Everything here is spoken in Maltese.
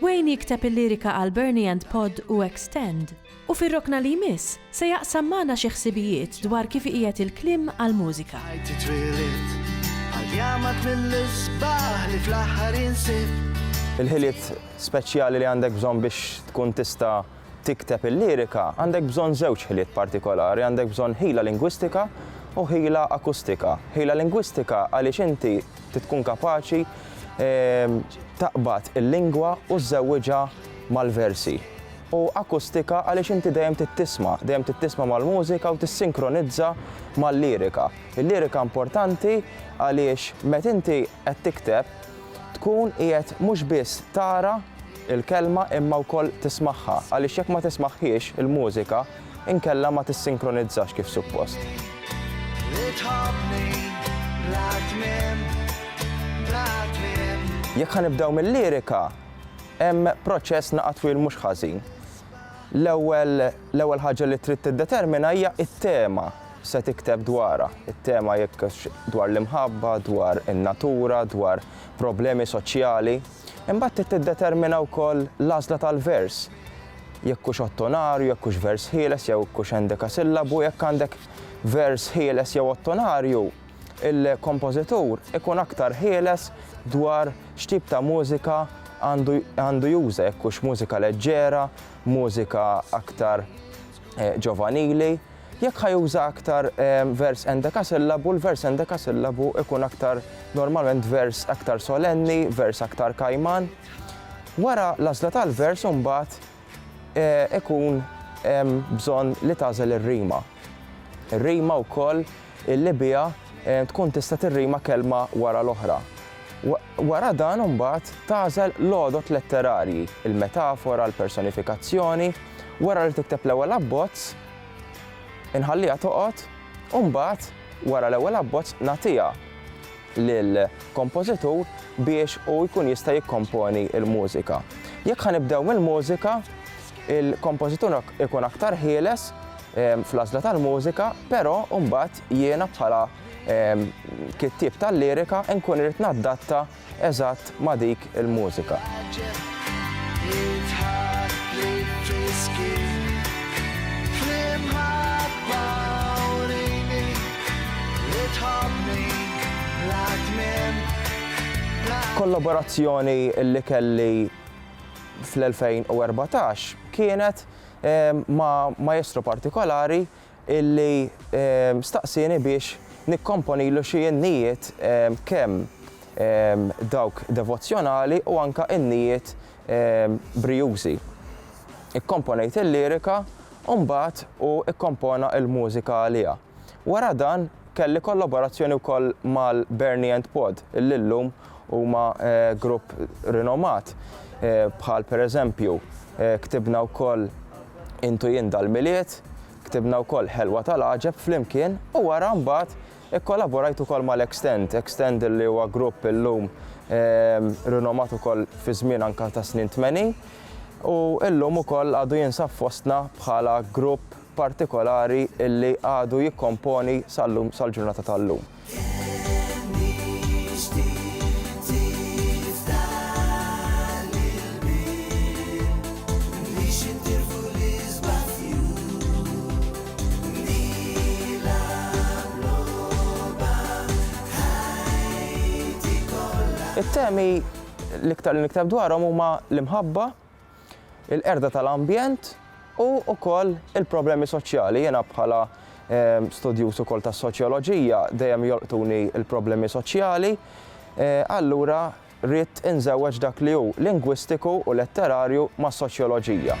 Wayne jikteb il-lirika għal Bernie and Pod u Extend, u fir-rokna li jmiss se jaqsam magħna xi ħsibijiet dwar kif iqiegħed il-kliem għall-mużika. Ħajti twielied għal jamat mill-isbaħ li fl-aħħar jinsib. Il-ħiliet speċjali li għandek bżonn biex tkun tista' tikteb il-lirika għandek bżonn żewġ ħiliet partikolari, għandek bżonn ħila lingwistika u ħila akustika. Ħila lingwistika għaliex inti tkun kapaċi ehm, taqbad il-lingwa u żżewwiġha mal-versi. U akustika għaliex inti dejjem tittisma, dejjem tittisma mal-mużika u tissinkronizza mal-lirika. Il-lirika importanti għaliex met inti qed tikteb tkun qiegħed mhux biss tara il-kelma imma wkoll tismagħha għaliex jekk ma tismagħhiex il-mużika inkella ma tissinkronizzax kif suppost. Jekk ħa nibdew mil-lirika, hemm proċess naqa' twil mhux ħażin. L-ewwel l-ewwel ħaġa li trid tiddetermina hija t-tema se tikteb dwarha. It-tema jekk dwar l-imħabba, dwar in-natura, dwar problemi soċjali. Imbagħad trid tiddetermina wkoll l-għażla tal-vers, jekk hux ottonarju, jekk hux vers ħieles jew jekk hux endekasillabu, jekk għandek vers ħieles jew ottonarju, il-kompożitur ikun aktar ħieles dwar x'tip ta' mużika għandu juża, jekk hux mużika leġġera, mużika aktar ġovanili. Jekk ħa juża aktar vers endekasillabu, l-vers endekasillabu ikun aktar normalment vers aktar solenni, vers aktar kajman. Wara l-għażla tal-vers imbagħad eh, ikun bżonn li tagħżel ir-rima. Ir-rima wkoll Il-Libija tkun tista' tirrima kelma wara l-oħra. Wara dan imbagħad tagħżel l-għodod letterarji, il-metafora, l-personifikazzjoni, wara li tikteb l-ewwel abbozz, inħalliha toqgħod u mbagħad wara l-ewwel abbozz nagħtiha lill-kompożitur biex hu jkun jista' jikkomponi l-mużika. Jekk ħa nibdew mill-mużika, Il-kompożitur ikun aktar ħieles fl-għażla tal-mużika, però mbagħad jiena bħala kittieb tal-lirika nkun irrid naddatta eżatt ma' dik il-mużika. Kollaborazzjoni li kelli fl-2014 kienet ma' maestro partikolari illi staqsieni biex nikkomponilu xi innijiet kemm dawk devozzjonali u anke innijiet brijużi. Ikkomponejt il-lirika u mbagħad hu kkompona l-mużika għaliha. Wara dan, kelli kollaborazzjoni wkoll mal-Bernie and Pod, illi llum huma grupp rinomat, bħal pereżempju, ktibna wkoll Intu Jien dal-Milied, ktibna wkoll Ħelwa tal-Għaġeb flimkien u wara mbagħad ikkollaborajt ukoll mal-Extend, Extend illi huwa grupp illum rinomat ukoll fi żmien anke tas-snin tmenin u llum ukoll għadu jinsab fostna bħala grupp, partikolari li għadu jikkomponi sal-lum, sal-ġurnata tal-lum. It-temi l-iktar li nikteb dwarhom huma l-imħabba, il-qerda tal-ambjent u wkoll il-problemi soċjali. Jiena bħala studjuż ukoll tas-soċjoloġija dejjem jolqtuni l-problemi soċjali, allura ridt inżewweġ dak li hu lingwistiku u letterarju mas-soċjoloġija.